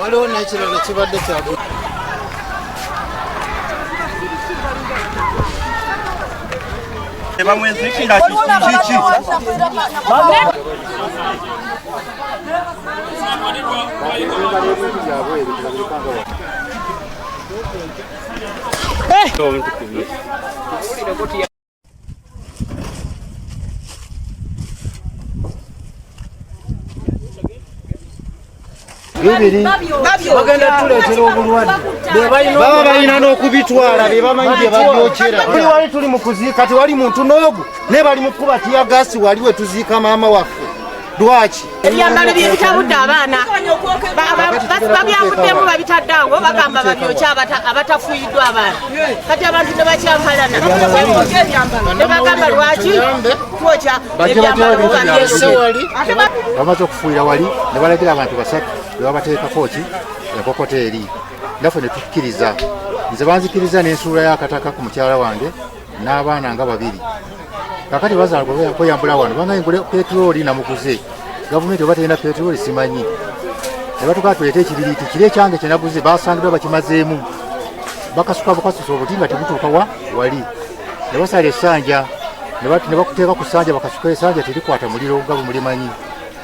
waliwo n'ekirala kibadde kyagu bamwezikira kiki Hey! bibiri bagenda tuleetera obulwadde baba balina n'okubitwala be bamanyi bye babyokera buli wali tuli mu kuziika tewali muntu n'ogu naye bali mu kukuba tiyagaasi wali we tuziika maama waffe lwaki ebyambalo bye bitabudde abaana babyavuddemu babitadde awo bagamba babyokya abatafuyiddwa abaana kati abantu ne bakyankalana ne bagamba lwaki twokya ebyambalo bamaze okufuuyira wali ne balagira abantu basatu ne babateekako ki enkokota eri naffe ne tukkiriza nze banzikiriza n'ensuula y'akataka ku mukyala wange n'abaana nga babiri kakati bazaala kweyambula wano banga ngule petroli namuguze gavumenti oba terina petroli simanyi nebatukaa tuleeta ekibiriiti kiri ekyange kyenaguze basangidwa bakimazeemu bakasuka bukasusa obuti nga tebutuuka wa wali ne basala esanja ne bakuteeka ku sanja bakasuka esanja terikwata muliro nga bumulimanyi